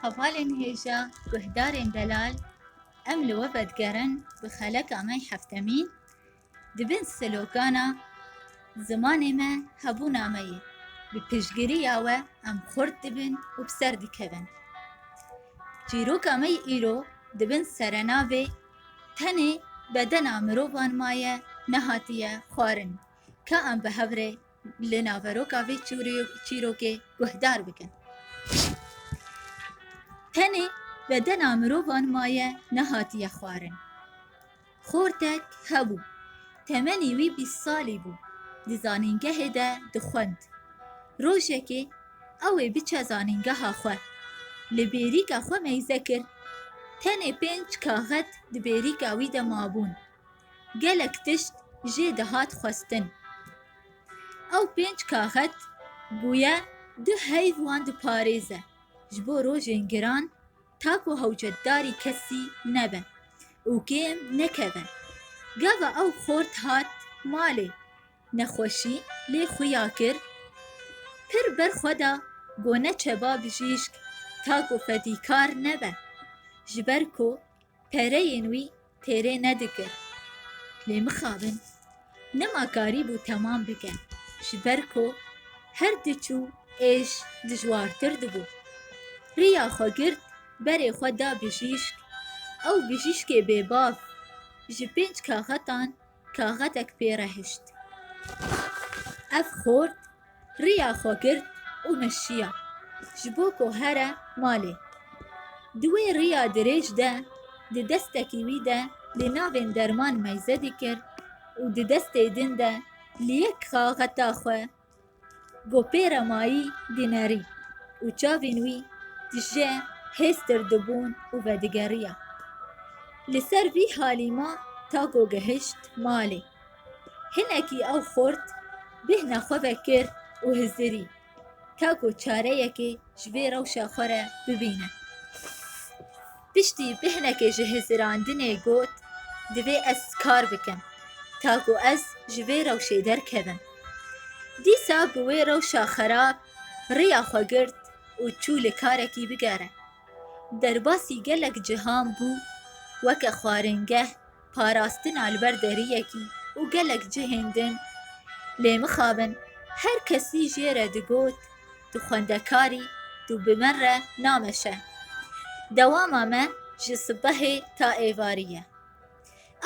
Hevalên hêja guhdarên delal em li we vedigerin bi xeleka me yê heftemî di bin slogana Zimanê me hebûna me ye, bi piştgiriya we em xurt dibin û bi ser dikevin. Çîroka me yê îro di bin serenavê Tenê bedena mirovan maye nehatiye xwarin ka em bi hev rê li naveroka vê çîrokê guhdar bikin. Tenê bedena mirovan maye nehatiye xwarin. Xortek hebû. Temenî wî bîst salî bû. Di zanîngehê de dixwend. Rojekê ew ê biçe zanîngeha xwe. Li bêrîka xwe meyze kir. Tenê pênc kaxet di bêrîka wî de mabûn. gelek tişt jê dihat xwestin. Ew pênc kaxet bûye du heyv wan diparêze ji bo rojên giran ta ku hewcetdarî kesî nebe û kêm nekeve. Gava ew xort hat malê, nexweşî lê xuya kir, pir ber xwe da ku neçeba bijîşk ta ku fedîkar nebe ji ber ku pereyên wî Têrê nedikir. Lê mixabin. Nima karî bû temam bike. Ji ber ku her diçû êş dijwartir dibû. Riya xwe girt berê xwe da bijîşk. Ew bijîşkê bêbav ji pênc kaxetan Kaxetek pê re hişt. Ev xort riya xwe girt û meşiya ji bo ku here malê. Di wê riya dirêj de di destekî wî de lê navên derman meyze dikir û di destê din de li yek kaxeta xwe Gopêra mayî dînerî û çavên wî di je hêstir dibûn û vedigeriya. Li ser vî halî ma Tako gihişt malê. Hinekî ew xurt bêhna xwe ve kir û hizirî ta ku çareyekê ji vê rewşa xwe re bibîne. Piştî bi hinekê ji hizirandinê got, Divê ez kar bikim, ta ku ez ji vê rewşê derkevim. Dîsa bi wê rewşa xerab rêya xwe girt û çû li karekî bigere. Derbasî gelek cihan bû weke xwaringeh parastina li ber deriyekî û gelek cihên din lê mixabin her kesî jê re digot tu xwendekarî tu bi min re nameşe. Dewama me ji sibehê ta êvarî ye.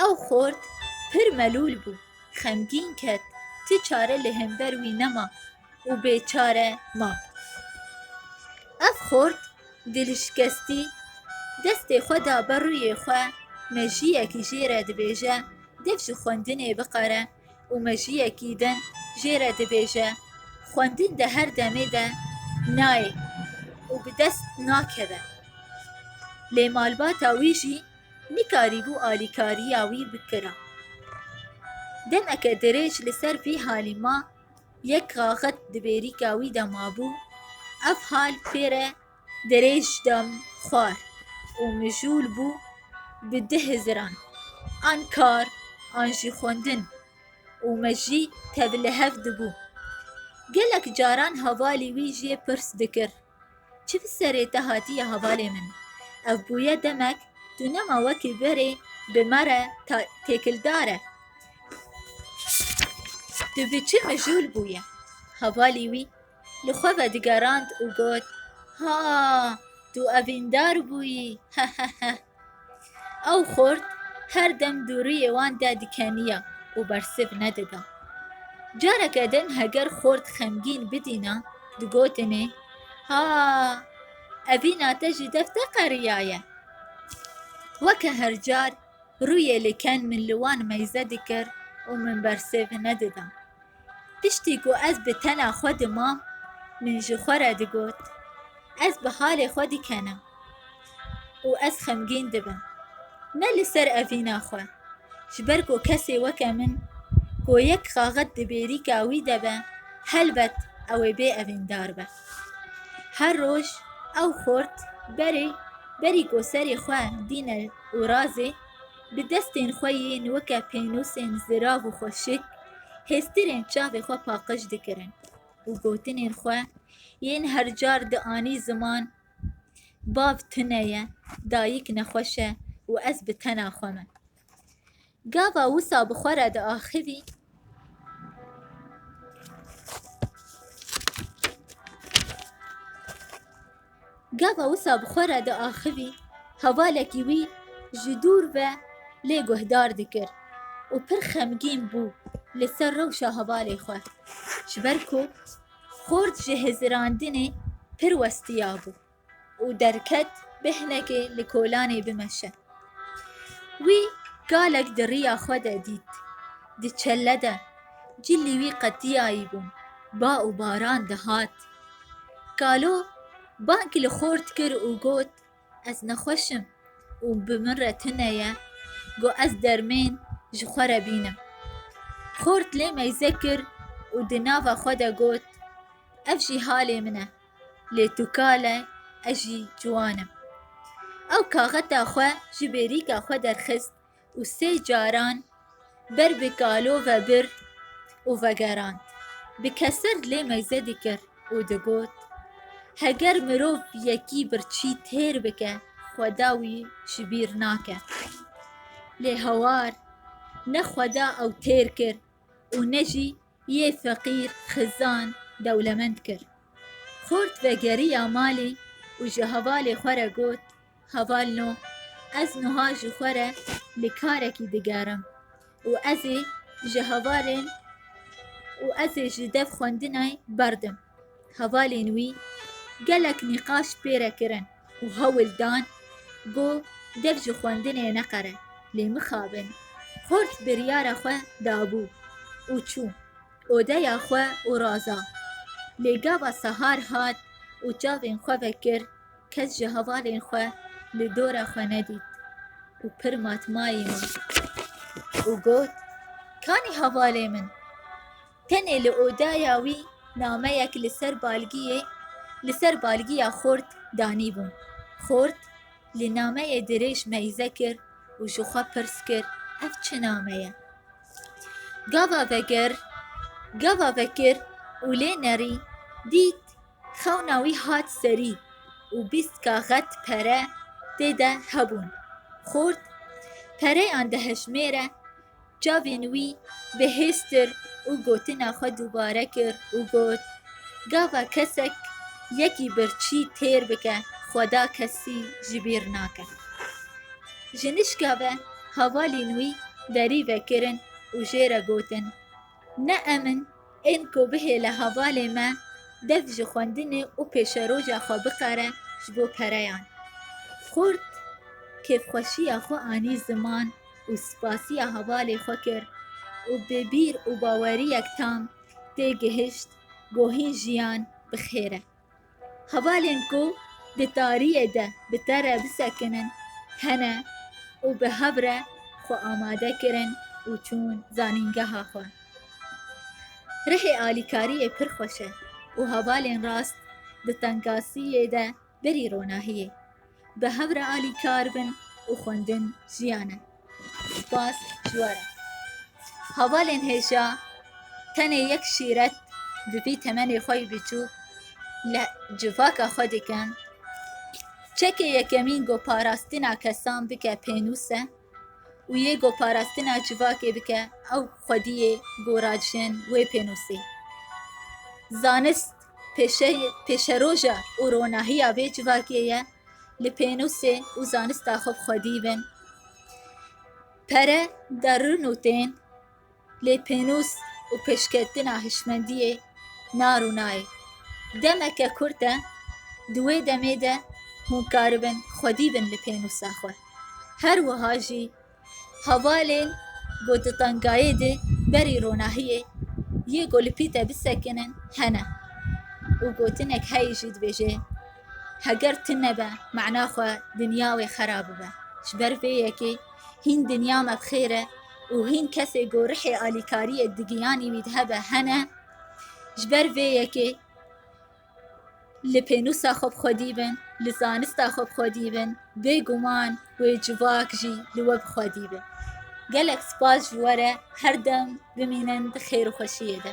Ew xort pir melûl bû, xemgîn ket, tu çare li hember wî nema. û bêçare ma. Ev xort dilişkestî destê xwe da ber rûyê xwe, mejiyekî jê re dibêje dev ji xwendinê biqere û mejiyekî din jê re dibêje xwendin di her demê de nayê û bi dest nakeve. Lê malbata wî jî nikarîbû alîkariya wî bikira. Demeke dirêj li ser vî halî ma. Yek raxet di bêrîka wî de mabû, ev hal pê re dirêj da min xwar û mijûl bû bi di hiziran, an kar an jî xwendin û me jî tevlihev dibû. Gelek caran hevalî wî jê pirs dikir. Çift serê te hatiye hevalê min. Ev bûye demek tu nema wekî berê bi me re ta têkildar e. Tu bi çi mijûl bûye? Hevalî wî li xwe ve digerand û got, Ha, tu evîndar bûyî, heheheh. Ew xort her dem dûriyê wan de dikeniya û bersiv nedida. Careke din heger xort xemgîn bidîna digotinê, Ha, evîna te ji dev te qeriyaye. Weke her car rûyê li ken min li wan meyze dikir û min bersiv nedida. Piştî ku ez bi tena xwe dimam min ji xwe re digot, Ez bi halê xwe dikena. û ez xemgîn dibim, ne li ser evîna xwe, ji ber ku kesê weke min ku yek xaxet di bêrîka wî de be, helbet ew ê bê evîndar be. Her roj ew xort berê berî ku serê xwe dîne û razê, bi destên xwe yên weke pênûsên zirav û xweşik, hêstirên çavê xwe paqij dikirin û gotinên xwe yên hercar dianî ziman, Bav tune ye, dayîk nexweş e û ez bi tena xwe me. Gava wisa bi xwe re diaxivî, Gava wisa bi xwe re diaxivî, hevalekî wî ji dûr ve lê guhdar dikir û pir xemgîn bû li ser rewşa hevalê xwe. Ji ber ku Xort ji hizirandinê pir westiyabû û derket bi hinekê li kolanê bimeşe. Wî galek di riya xwe de dît. Di çelle de cilî wî qetiyayîbû, ba û baran dihat. Kalo bang li xort kir û got. Ez nexweş im û bi min re tune ye ku ez dermên ji xwe re bînim. Xort lê meyze kir û di nava xwe de got, Ev jî halê min e, lê tu kal e ez jî ciwan im. Ew kaxeta xwe ji bêrîka xwe derxist û sê caran ber bi kalo vebir û vegerand. Bi keser lê meyze dikir û digot, Heger mirov yekî birçî têr bike, xweda wî ji bîr nake. Lê hawar ne xweda ew têr kir û ne jî yê feqîr xizan dewlemend kir. Xort vegeriya malê û ji hevalê xwe re got, Heval no, ez nuha ji xwe re li karekî digerim û ez ê ji hevalên û ez ê ji dev xwendinê berdim. Hevalên wî gelek nîqaş pê re kirin û hewl dan ku dev ji xwendinê neqere lê mixabin. Xort biryara xwe dabû û çû odeya xwe û raza. Lê gava sahar hat û çavên xwe vekir. Kes ji hevalên xwe li dora xwe nedît û pir mat mayê min û got, Kanî hevalê min? Tenê li odaya wî nameyek li ser balgiyê li ser balgiya xort danîbû. Xort li nameyê dirêj meyze kir û ji xwe pirs kir, Ev çi name ye? Gava vekir, gava vekir û lê nerî dît Xewna wî hat serî û bîst kaxet pere tê de hebûn. Xort pereyan dihejmêre, çavên wî bihêztir û gotina xwe dubare kir û got, Gava kesek yekî birçî têr bike xweda kesî ji bîr nake. Ji nişka ve hevalên wî derî vekirin û jê re gotin, Ne em in ên ku bihêle hevalê me dev ji xwendinê û pêşeroja xwe bikare ji bo pereyan. Xurt kêfxweşiya xwe anî ziman û spasiya hevalê xwe kir û bi bîr û baweriyek tam tê gihişt ku hîn jiyan bi xêr e. Hevalên ku di tariyê de bi te re bisekinin hene û bi hev re xwe amade kirin û çûn zanîngeha xwe. Rihê alîkariyê pir xweş e û hevalên rast di tengasiyê de berî ronahiyê. Bi hev re alîkar bin û xwendin jiyan e. Spas ji we re. Hevalên hêja tenê yek şîret bi vî temenê xwe yê biçûk li civaka xwe dikin. Çekê yekemîn goparastina kesan bike pênûs e û yê goparastina civakê bike ew xwediyê gora jin wê pênûsê. Zanist Pêşeyê, pêşeroja û ronahiya vê civakê ye li pênûsê û zanista xwe bi xwe dîbin. Pere derin û tên, lê pênûs û pêşketina hişmendiyê nar û nayê. Demeke kurt e, di wê demê de hûn karibin xwe dîbin li pênûsa xwe. Her wiha jî Hevalên ku di tengayê de berî ronahiyê yê ku li Pîte bisekinin hene û gotinek heye jî dibêje, Heger tu nebe mana xwe dinya wê xera bibe. Ji ber vê yekê hîn dinya me bi xêr e û hîn kesê ku rihê alîkariyê di giyanî wî de hebe hene. Ji ber vê yekê. Li pênûsa xwe bi xwe dîbin, li zanista xwe bi xwe dîbin, bêguman wê civak jî li we bi xwe dîbin. Gelek spas ji we re, her dem bimînin di xêr û xweşiyê de.